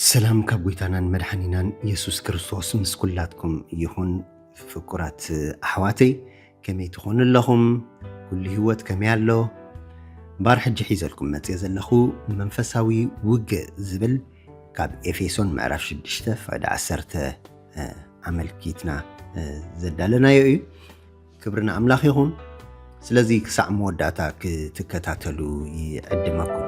ሰላም ካብ ጎይታናን መድሓኒናን የሱስ ክርስቶስ ምስ ኩላትኩም ይኹን ፍቁራት ኣሕዋተይ ከመይ ትኾኑ ኣለኹም? ኩሉ ህይወት ከመይ ኣሎ? እምበኣር ሕጂ ሒዘልኩም መጽየ ዘለኹ መንፈሳዊ ውግእ ዝብል ካብ ኤፌሶን ምዕራፍ 6 ፍዕዲ 10 ኣመልኪትና ዘዳለናዮ እዩ። ክብሪ ንኣምላኽ ይኹን። ስለዚ ክሳዕ መወዳእታ ክትከታተሉ ይዕድመኩም።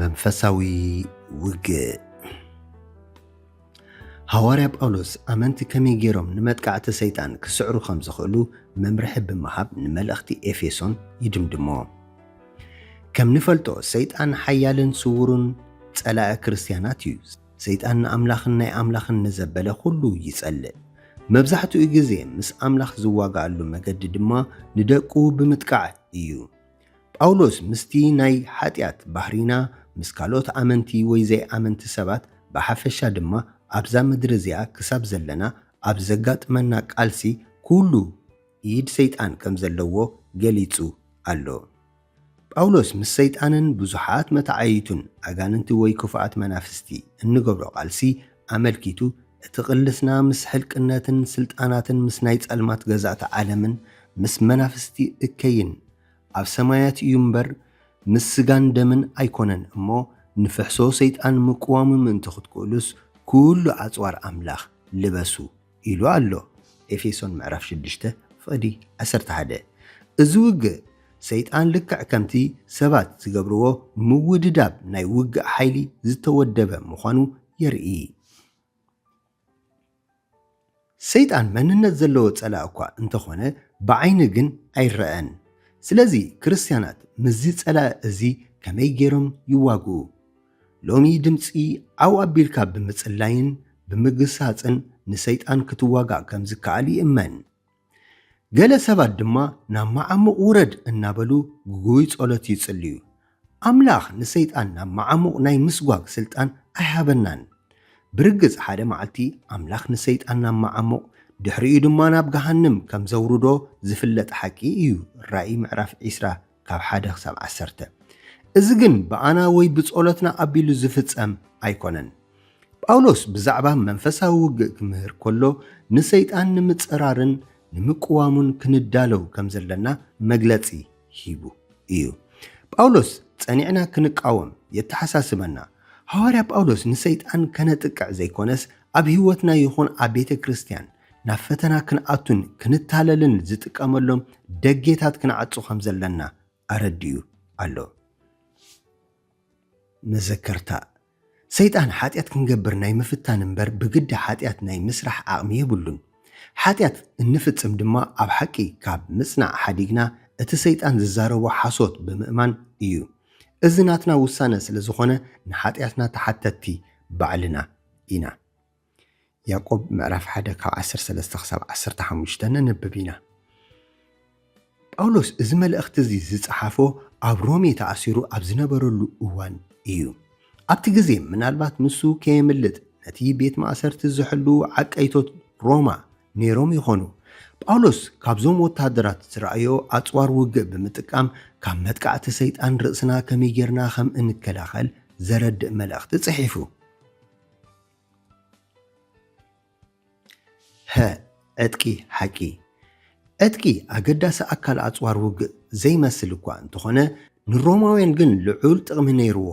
መንፈሳዊ ውግእ ሃዋርያ ጳውሎስ ኣመንቲ ከመይ ገይሮም ንመጥቃዕቲ ሰይጣን ክስዕሩ ከም ዝኽእሉ መምርሒ ብምሃብ ንመልእኽቲ ኤፌሶን ይድምድሞ ከም ንፈልጦ ሰይጣን ሓያልን ስውሩን ጸላኢ ክርስትያናት እዩ ሰይጣን ንኣምላኽን ናይ ኣምላኽን ንዘበለ ዅሉ ይጸልእ። መብዛሕትኡ ግዜ ምስ ኣምላኽ ዝዋግኣሉ መገዲ ድማ ንደቁ ብምጥቃዕ እዩ። ጳውሎስ ምስቲ ናይ ሓጢኣት ባህርይና ምስ ካልኦት ኣመንቲ ወይ ዘይኣመንቲ ሰባት ብሓፈሻ ድማ ኣብዛ ምድሪ እዚኣ ክሳብ ዘለና ኣብ ዘጋጥመና ቃልሲ ኵሉ ኢድ ሰይጣን ከም ዘለዎ ገሊጹ ኣሎ። ጳውሎስ ምስ ሰይጣንን ብዙሓት መተዓይይቱን፣ ኣጋንንቲ ወይ ክፉኣት መናፍስቲ፣ እንገብሮ ቃልሲ ኣመልኪቱ፣ እቲ ቕልስና ምስ ሕልቅነትን ስልጣናትን ምስ ናይ ጸልማት ገዛእቲ ዓለምን ምስ መናፍስቲ እከይን ኣብ ሰማያት እዩ እምበር ምስ ስጋን ደምን ኣይኮነን እሞ ንፍሕሶ ሰይጣን ምቅዋሙ ምእንቲ ክትክእሉስ ኩሉ ኣጽዋር ኣምላኽ ልበሱ ኢሉ ኣሎ፣ ኤፌሶን ምዕራፍ ሽዱሽተ ፍቕዲ ዓሰርተ ሓደ። እዚ ውግእ፣ ሰይጣን ልክዕ ከምቲ ሰባት ዝገብርዎ ምውድዳብ ናይ ውግእ ሓይሊ ዝተወደበ ምዃኑ የርኢ። ሰይጣን መንነት ዘለዎ ጸላእ እኳ እንተ ዀነ፣ ብዓይኒ ግን ኣይረኣን። ስለዚ፣ ክርስትያናት ምስዚ ጸላእ እዚ ከመይ ገይሮም ይዋግኡ? ሎሚ ድምጺ ዓው ኣቢልካ ብምጽላይን ብምግሳጽን ንሰይጣን ክትዋጋእ ከም ዝከኣል ይእመን። ገለ ሰባት ድማ ናብ መዓሙቕ ውረድ እናበሉ ግጉይ ጸሎት ይጽልዩ። ኣምላኽ ንሰይጣን ናብ መዓሙቕ ናይ ምስጓግ ስልጣን ኣይሃበናን። ብርግጽ ሓደ መዓልቲ ኣምላኽ ንሰይጣን ናብ መዓሙቕ ድሕሪኡ ድማ ናብ ገሃንም ከም ዘውርዶ ዝፍለጥ ሓቂ እዩ፣ ራእይ ምዕራፍ ዕስራ ካብ ሓደ ክሳብ ዓሰርተ። እዚ ግን ብኣና ወይ ብጸሎትና ኣቢሉ ዚፍጸም ኣይኰነን። ጳውሎስ ብዛዕባ መንፈሳዊ ውግእ ኪምህር ከሎ፣ ንሰይጣን ንምጽራርን ንምቅዋሙን ክንዳለው ከም ዘለና መግለጺ ሂቡ እዩ። ጳውሎስ ጸኒዕና ክንቃወም የተሓሳስበና። ሃዋርያ ጳውሎስ ንሰይጣን ከነጥቅዕ ዘይኰነስ፣ ኣብ ህይወትና ይኹን ኣብ ቤተ ክርስትያን፣ ናብ ፈተና ክንኣቱን ክንታለልን ዝጥቀመሎም ደጌታት ክንዓጹ ከም ዘለና ኣረዲኡ ኣሎ። መዘከርታ፣ ሰይጣን ሓጢኣት ክንገብር ናይ ምፍታን እምበር ብግዲ ሓጢኣት ናይ ምስራሕ ዓቕሚ የብሉን። ሓጢኣት እንፍጽም ድማ ኣብ ሓቂ ካብ ምጽናዕ ሓዲግና እቲ ሰይጣን ዝዛረቦ ሓሶት ብምእማን እዩ። እዚ ናትና ውሳነ ስለ ዝኾነ ንሓጢኣትና ተሓተትቲ ባዕልና ኢና። ያእቆብ ምዕራፍ ሓደ ካብ ዓሰርተ ሰለስተ ክሳብ ዓሰርተ ሓሙሽተ ነንብብ ኢና። ጳውሎስ እዚ መልእኽቲ እዚ ዝጸሓፎ ኣብ ሮሜ ተኣሲሩ ኣብ ዝነበረሉ እዋን ኢዩ። ኣብቲ ግዜ ምናልባት ንሱ ከየምልጥ ነቲ ቤት ማእሰርቲ ዝሕልዉ ዓቀይቶት ሮማ ነይሮም ይዀኑ። ጳውሎስ ካብዞም ወተሃደራት ዝረኣዮ ኣጽዋር ውግእ ብምጥቃም ካብ መጥቃዕቲ ሰይጣን ርእስና ከመይ ጌርና ከም እንከላኸል ዘረድእ መልእኽቲ ጽሒፉ። ሀ። ዕጥቂ ሓቂ ዕጥቂ ኣገዳሲ ኣካል ኣጽዋር ውግእ ዘይመስል እኳ እንተኾነ፣ ንሮማውያን ግን ልዑል ጥቕሚ ነይርዎ።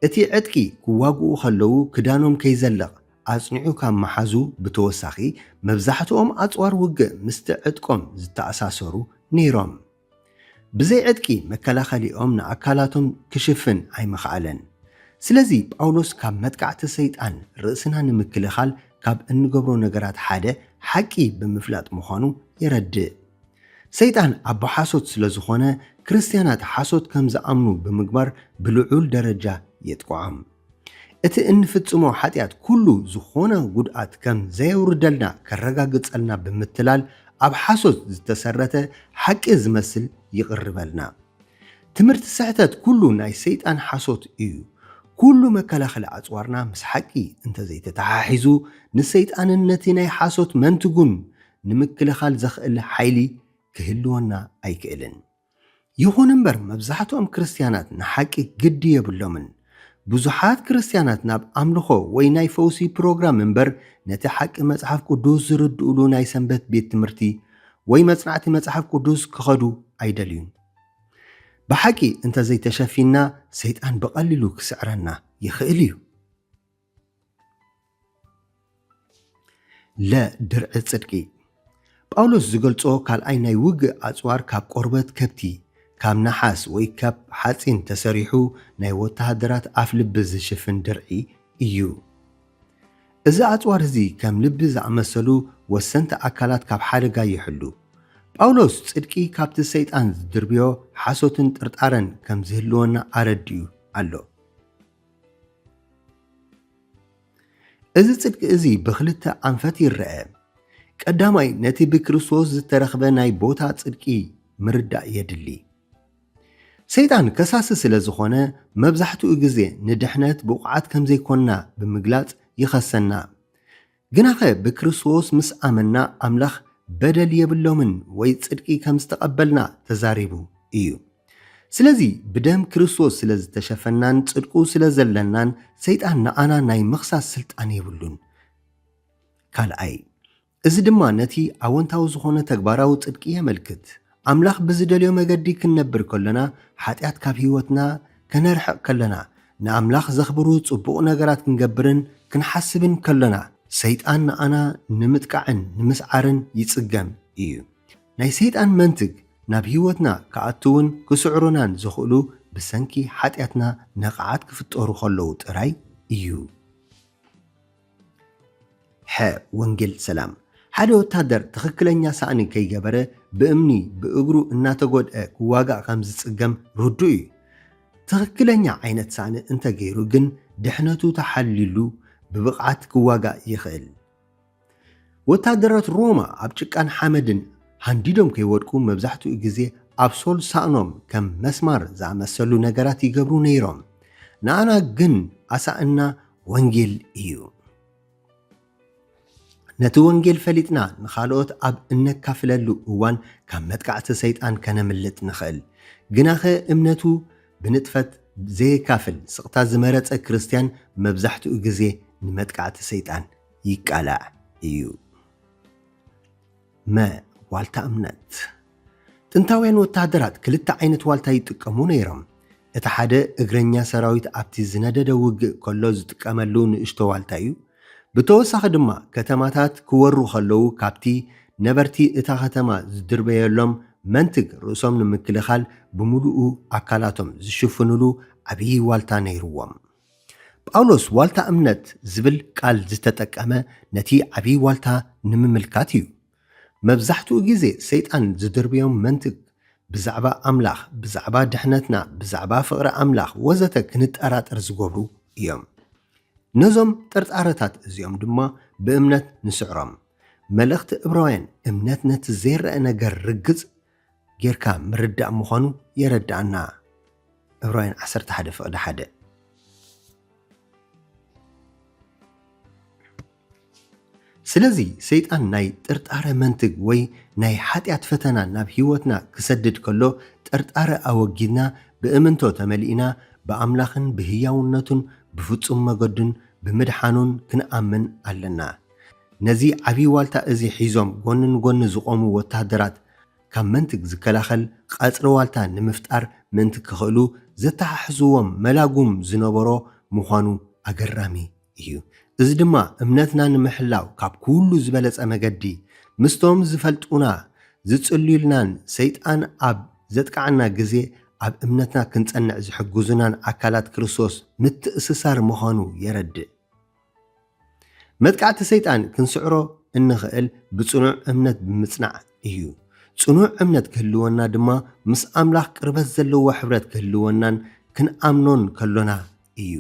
እቲ ዕጥቂ ክዋግኡ ከለዉ ክዳኖም ከይዘልቕ ኣጽኒዑ ካብ ምሓዙ ብተወሳኺ፣ መብዛሕትኦም ኣጽዋር ውግእ ምስቲ ዕጥቆም ዝተኣሳሰሩ ነይሮም። ብዘይ ዕጥቂ መከላኸሊኦም ንኣካላቶም ክሽፍን ኣይምኸኣለን። ስለዚ ጳውሎስ ካብ መጥቃዕቲ ሰይጣን ርእስና ንምክልኻል ካብ እንገብሮ ነገራት ሓደ ሓቂ ብምፍላጥ ምዃኑ የረድእ። ሰይጣን ኣቦ ሓሶት ስለዝኾነ ክርስትያናት ሓሶት ከም ዝኣምኑ ብምግባር ብልዑል ደረጃ የጥቅዖም። እቲ እንፍጽሞ ሓጢኣት ኩሉ ዝኾነ ጉድኣት ከም ዘየውርደልና ከረጋግጸልና ብምትላል ኣብ ሓሶት ዝተሰረተ ሓቂ ዝመስል ይቕርበልና። ትምህርቲ ስሕተት ኩሉ ናይ ሰይጣን ሓሶት እዩ። ኩሉ መከላኸሊ ኣጽዋርና ምስ ሓቂ እንተዘይተተሓሒዙ ንሰይጣንን ነቲ ናይ ሓሶት መንትጉን ንምክልኻል ዘኽእል ሓይሊ ክህልወና ኣይክእልን። ይኹን እምበር፣ መብዛሕትኦም ክርስትያናት ንሓቂ ግዲ የብሎምን። ብዙሓት ክርስትያናት ናብ ኣምልኾ ወይ ናይ ፈውሲ ፕሮግራም እምበር ነቲ ሓቂ መጽሓፍ ቅዱስ ዝርድኡሉ ናይ ሰንበት ቤት ትምህርቲ ወይ መጽናዕቲ መጽሓፍ ቅዱስ ክኸዱ ኣይደልዩን። ብሓቂ እንተ ዘይተሸፊንና ሰይጣን ብቐሊሉ ክስዕረና ይኽእል ኢዩ። ለ ድርዒ ጽድቂ ጳውሎስ ዝገልጾ ካልኣይ ናይ ውግእ ኣጽዋር ካብ ቆርበት ከብቲ፣ ካብ ነሓስ ወይ ካብ ሓጺን ተሰሪሑ ናይ ወተሃደራት ኣፍ ልቢ ዝሽፍን ድርዒ ኢዩ። እዚ ኣጽዋር እዚ ከም ልቢ ዝኣመሰሉ ወሰንቲ ኣካላት ካብ ሓደጋ ይሕሉ። ጳውሎስ ጽድቂ ካብቲ ሰይጣን ዝድርብዮ ሓሶትን ጥርጣረን ከም ዝህልወና ኣረዲኡ ኣሎ። እዚ ጽድቂ እዚ ብኽልተ ኣንፈት ይረኣ። ቀዳማይ ነቲ ብክርስቶስ ዝተረኽበ ናይ ቦታ ጽድቂ ምርዳእ የድሊ። ሰይጣን ከሳሲ ስለ ዝኾነ መብዛሕትኡ ግዜ ንድሕነት ብቑዓት ከም ዘይኮንና ብምግላጽ ይኸሰና። ግናኸ ብክርስቶስ ምስ ኣመንና ኣምላኽ በደል የብሎምን ወይ ጽድቂ ከም ዝተቐበልና ተዛሪቡ እዩ። ስለዚ ብደም ክርስቶስ ስለ ዝተሸፈናን ጽድቁ ስለ ዘለናን ሰይጣን ንኣና ናይ ምኽሳስ ስልጣን የብሉን። ካልኣይ እዚ ድማ ነቲ ኣወንታዊ ዝኾነ ተግባራዊ ጽድቂ የመልክት። ኣምላኽ ብዝደልዮ መገዲ ክንነብር ከሎና፣ ሓጢኣት ካብ ህይወትና ከነርሕቕ ከሎና፣ ንኣምላኽ ዘኽብሩ ጽቡቕ ነገራት ክንገብርን ክንሓስብን ከሎና፣ ሰይጣን ንኣና ንምጥቃዕን ንምስዓርን ይጽገም እዩ። ናይ ሰይጣን መንትግ ናብ ህይወትና ክኣትውን ክስዕሩናን ዝኽእሉ ብሰንኪ ሓጢኣትና ነቓዓት ክፍጠሩ ከለዉ ጥራይ እዩ። ሐ ወንጌል ሰላም ሓደ ወታደር ትኽክለኛ ሳእኒ ከይገበረ ብእምኒ ብእግሩ እናተጎድኣ ክዋጋእ ከምዝፅገም ርዱእ እዩ። ትኽክለኛ ዓይነት ሳእኒ እንተገይሩ ግን ድሕነቱ ተሓልዩሉ ብብቕዓት ክዋጋእ ይኽእል። ወታደራት ሮማ ኣብ ጭቃን ሓመድን ሃንዲዶም ከይወድቁ መብዛሕትኡ ግዜ ኣብ ሶል ሳእኖም ከም መስማር ዝኣመሰሉ ነገራት ይገብሩ ነይሮም። ንኣና ግን ኣሳእንና ወንጌል እዩ። ነቲ ወንጌል ፈሊጥና ንኻልኦት ኣብ እነካፍለሉ እዋን ካብ መጥቃዕቲ ሰይጣን ከነምልጥ ንኽእል። ግናኸ እምነቱ ብንጥፈት ዘየካፍል ስቕታ ዝመረጸ ክርስትያን መብዛሕትኡ ግዜ ንመጥቃዕቲ ሰይጣን ይቃላዕ እዩ። መ፣ ዋልታ እምነት፣ ጥንታውያን ወተሃደራት ክልተ ዓይነት ዋልታ ይጥቀሙ ነይሮም። እቲ ሓደ እግረኛ ሰራዊት ኣብቲ ዝነደደ ውግእ ከሎ ዝጥቀመሉ ንእሽቶ ዋልታ እዩ። ብተወሳኺ ድማ ከተማታት ክወሩ ከለዉ ካብቲ ነበርቲ እታ ከተማ ዝድርበየሎም መንትግ ርእሶም ንምክልኻል ብምሉኡ ኣካላቶም ዝሽፍኑሉ ዓብዪ ዋልታ ነይሩዎም። ጳውሎስ ዋልታ እምነት ዝብል ቃል ዝተጠቀመ ነቲ ዓብዪ ዋልታ ንምምልካት እዩ። መብዛሕትኡ ግዜ ሰይጣን ዝድርብዮም መንትግ ብዛዕባ ኣምላኽ፣ ብዛዕባ ድሕነትና፣ ብዛዕባ ፍቕሪ ኣምላኽ ወዘተ ክንጠራጠር ዝገብሩ እዮም። ነዞም ጥርጣረታት እዚኦም ድማ ብእምነት ንስዕሮም። መልእኽቲ እብራውያን እምነት ነቲ ዘይረኣ ነገር ርግጽ ጌርካ ምርዳእ ምዃኑ የረድኣና፣ ዕብራውያን ዓሰርተ ሓደ ፍቕዲ ሓደ። ስለዚ ሰይጣን ናይ ጥርጣረ መንትግ ወይ ናይ ሓጢኣት ፈተና ናብ ህይወትና ክሰድድ ከሎ ጥርጣረ ኣወጊድና ብእምንቶ ተመሊእና ብኣምላኽን ብህያውነቱን ብፍጹም መገዱን ብምድሓኑን ክንኣምን ኣለና። ነዚ ዓብዪ ዋልታ እዚ ሒዞም ጎኒ ንጎኒ ዝቖሙ ወተሃደራት፣ ካብ መንትግ ዝከላኸል ቐጽሪ ዋልታ ንምፍጣር ምእንቲ ክኽእሉ ዘተሓሕዝዎም መላጉም ዝነበሮ ምዃኑ ኣገራሚ እዩ። እዚ ድማ እምነትና ንምሕላው ካብ ኩሉ ዝበለጸ መገዲ፣ ምስቶም ዝፈልጡና ዝጽልዩልናን ሰይጣን ኣብ ዘጥቅዓና ግዜ ኣብ እምነትና ክንጸንዕ ዝሕግዙናን ኣካላት ክርስቶስ ምትእስሳር ምዃኑ የረድእ። መጥቃዕቲ ሰይጣን ክንስዕሮ እንኽእል ብጽኑዕ እምነት ብምጽናዕ እዩ። ጽኑዕ እምነት ክህልወና ድማ ምስ ኣምላኽ ቅርበት ዘለዎ ሕብረት ክህልወናን ክንኣምኖን ከሎና እዩ።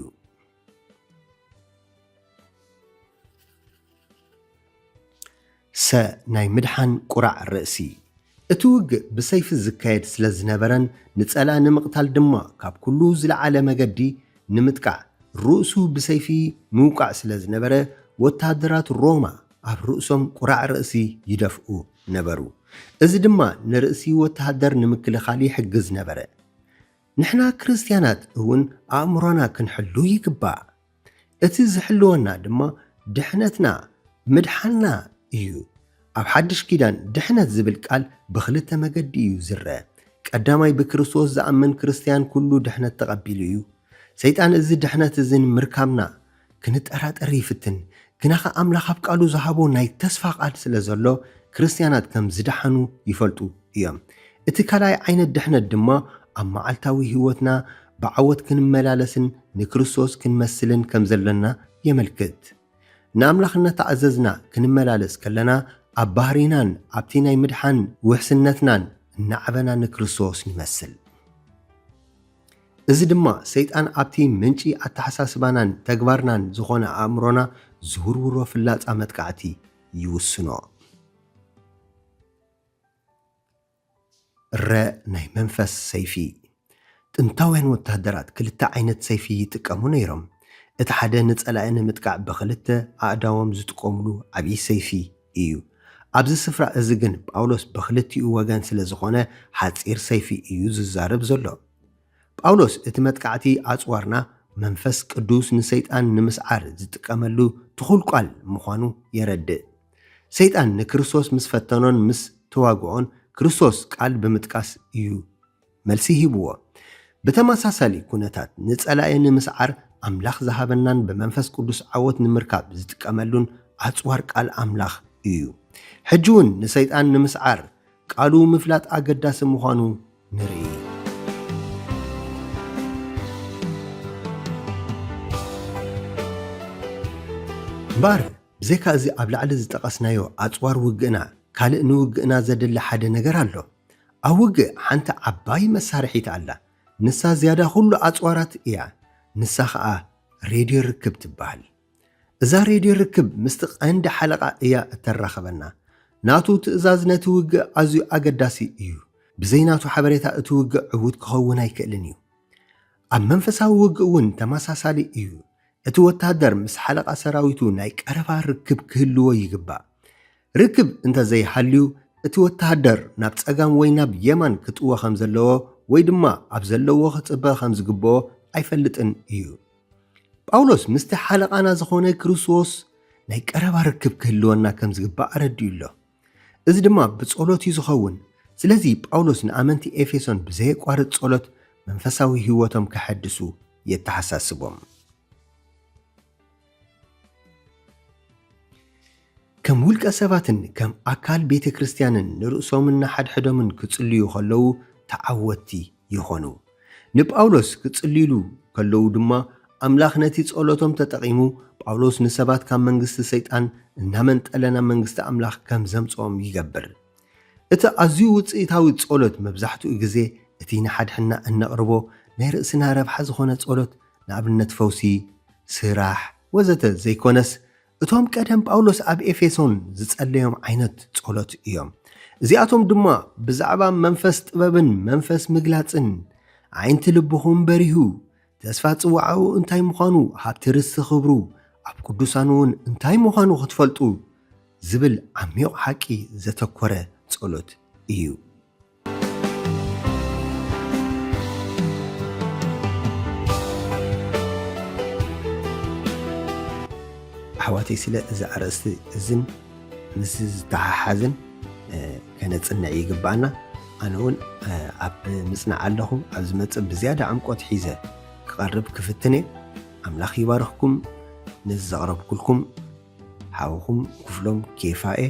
ሰ ናይ ምድሓን ቁራዕ ርእሲ እቲ ውግእ ብሰይፊ ዝካየድ ስለ ዝነበረን ንጸላኢ ንምቕታል ድማ ካብ ኩሉ ዝለዓለ መገዲ ንምጥቃዕ ርእሱ ብሰይፊ ምውቃዕ ስለ ዝነበረ ወተሃደራት ሮማ ኣብ ርእሶም ቁራዕ ርእሲ ይደፍኡ ነበሩ። እዚ ድማ ንርእሲ ወተሃደር ንምክልኻል ይሕግዝ ነበረ። ንሕና ክርስትያናት እውን ኣእምሮና ክንሕሉ ይግባእ። እቲ ዝሕልወና ድማ ድሕነትና ምድሓንና እዩ። ኣብ ሓድሽ ኪዳን ድሕነት ዝብል ቃል ብኽልተ መገዲ እዩ ዝረኣ። ቀዳማይ ብክርስቶስ ዝኣምን ክርስትያን ኩሉ ድሕነት ተቐቢሉ እዩ። ሰይጣን እዚ ድሕነት እዚ ንምርካብና ክንጠራጠር ይፍትን። ግናኸ ኣምላኽ ኣብ ቃሉ ዝሃቦ ናይ ተስፋ ቃል ስለ ዘሎ ክርስትያናት ከም ዝደሓኑ ይፈልጡ። እዮም። እቲ ካልኣይ ዓይነት ድሕነት ድማ ኣብ መዓልታዊ ህይወትና ብዓወት ክንመላለስን ንክርስቶስ ክንመስልን ከም ዘሎና የመልክት። ንኣምላኽ እናተኣዘዝና ክንመላለስ ከለና ኣብ ባህርይናን ኣብቲ ናይ ምድሓን ውሕስነትናን እናዓበና ንክርስቶስ ንመስል። እዚ ድማ ሰይጣን ኣብቲ ምንጪ ኣተሓሳስባናን ተግባርናን ዝኾነ ኣእምሮና ዝውርውሮ ፍላጻ መጥቃዕቲ ይውስኖ። እረ ናይ መንፈስ ሰይፊ! ጥንታውያን ወተሃደራት ክልተ ዓይነት ሰይፊ ይጥቀሙ ነይሮም። እቲ ሓደ ንጸላኢ ንምጥቃዕ ብኽልተ ኣእዳዎም ዝጥቀሙሉ ዓብዪ ሰይፊ ኢዩ። ኣብዚ ስፍራ እዚ ግን ጳውሎስ ብኽልቲኡ ወገን ስለ ዝዀነ ሓጺር ሰይፊ ኢዩ ዝዛረብ ዘሎ። ጳውሎስ እቲ መጥቃዕቲ ኣጽዋርና መንፈስ ቅዱስ ንሰይጣን ንምስዓር ዝጥቀመሉ ትኹል ቃል ምዃኑ የረድእ። ሰይጣን ንክርስቶስ ምስ ፈተኖን ምስ ተዋግኦን ክርስቶስ ቃል ብምጥቃስ እዩ መልሲ ሂብዎ። ብተመሳሳሊ ኩነታት ንጸላኢ ንምስዓር ኣምላኽ ዝሃበናን ብመንፈስ ቅዱስ ዓወት ንምርካብ ዝጥቀመሉን ኣጽዋር ቃል ኣምላኽ እዩ። ሕጂውን ንሰይጣን ንምስዓር ቃሉ ምፍላጥ ኣገዳሲ ምዃኑ ንርኢ። እምበኣር ብዘይካ እዚ ኣብ ላዕሊ ዝጠቐስናዮ ኣጽዋር ውግእና ካልእ ንውግእና ዘድሊ ሓደ ነገር ኣሎ። ኣብ ውግእ ሓንቲ ዓባይ መሳርሒት ኣላ፣ ንሳ ዝያዳ ዅሉ ኣጽዋራት እያ፣ ንሳ ኸኣ ሬድዮ ርክብ ትበሃል። እዛ ሬድዮ ርክብ ምስቲ ቀንዲ ሓለቓ እያ እተራኽበና። ናቱ ትእዛዝ ነቲ ውግእ ኣዝዩ ኣገዳሲ እዩ፣ ብዘይ ናቱ ሓበሬታ እቲ ውግእ ዕዉት ክኸውን ኣይክእልን እዩ። ኣብ መንፈሳዊ ውግእ እውን ተመሳሳሊ እዩ፣ እቲ ወተሃደር ምስ ሓለቓ ሰራዊቱ ናይ ቀረባ ርክብ ክህልዎ ይግባእ። ርክብ እንተ ዘይሃልዩ፣ እቲ ወተሃደር ናብ ጸጋም ወይ ናብ የማን ክጥወ ከም ዘለዎ ወይ ድማ ኣብ ዘለዎ ክጽበ ከም ዝግብኦ ኣይፈልጥን ኢዩ። ጳውሎስ ምስቲ ሓለቓና ዝዀነ ክርስቶስ ናይ ቀረባ ርክብ ክህልወና ከም ዝግባእ ኣረዲኡ ኣሎ። እዚ ድማ ብጸሎት ኢዩ ዝኸውን። ስለዚ ጳውሎስ ንኣመንቲ ኤፌሶን ብዘየቋርጽ ጸሎት መንፈሳዊ ህይወቶም ከሐድሱ የተሓሳስቦም። ከም ውልቀ ሰባትን ከም ኣካል ቤተ ክርስቲያንን ንርእሶምን ንሓድሕዶምን ክጽልዩ ከለዉ ተዓወትቲ ይዀኑ። ንጳውሎስ ክጽልዩሉ ከለዉ ድማ ኣምላኽ ነቲ ጸሎቶም ተጠቒሙ ጳውሎስ ንሰባት ካብ መንግስቲ ሰይጣን እናመንጠለ ናብ መንግስቲ ኣምላኽ ከም ዘምጽኦም ይገብር። እቲ ኣዝዩ ውጽኢታዊ ጸሎት መብዛሕትኡ ግዜ እቲ ንሓድሕድና እነቕርቦ ናይ ርእስና ረብሓ ዝዀነ ጸሎት ንኣብነት ፈውሲ፣ ስራሕ፣ ወዘተ ዘይኰነስ፣ እቶም ቀደም ጳውሎስ ኣብ ኤፌሶን ዝጸለዮም ዓይነት ጸሎት እዮም። እዚኣቶም ድማ ብዛዕባ መንፈስ ጥበብን መንፈስ ምግላጽን፣ ኣዒንቲ ልብኹም በሪሁ፣ ተስፋ ጽውዓኡ እንታይ ምዃኑ፣ ሃብቲ ርስቲ ኽብሩ፣ ኣብ ቅዱሳንውን እንታይ ምዃኑ ኽትፈልጡ ዝብል ዓሚቝ ሓቂ ዘተኰረ ጸሎት እዩ። ኣሕዋተይ ስለ እዚ ኣርእስቲ እዝን ምስዚ ዝተሓሓዝን ከነጽንዕ ይግብኣና። ኣነ እውን ኣብ ምጽናዕ ኣለኹ። ኣብ ዝመጽእ ብዝያዳ ዕምቆት ሒዘ ክቐርብ ክፍትን እየ። ኣምላኽ ይባርኽኩም። ነዚ ዘቕረብኩልኩም ሓውኹም ክፍሎም ኬፋ እየ።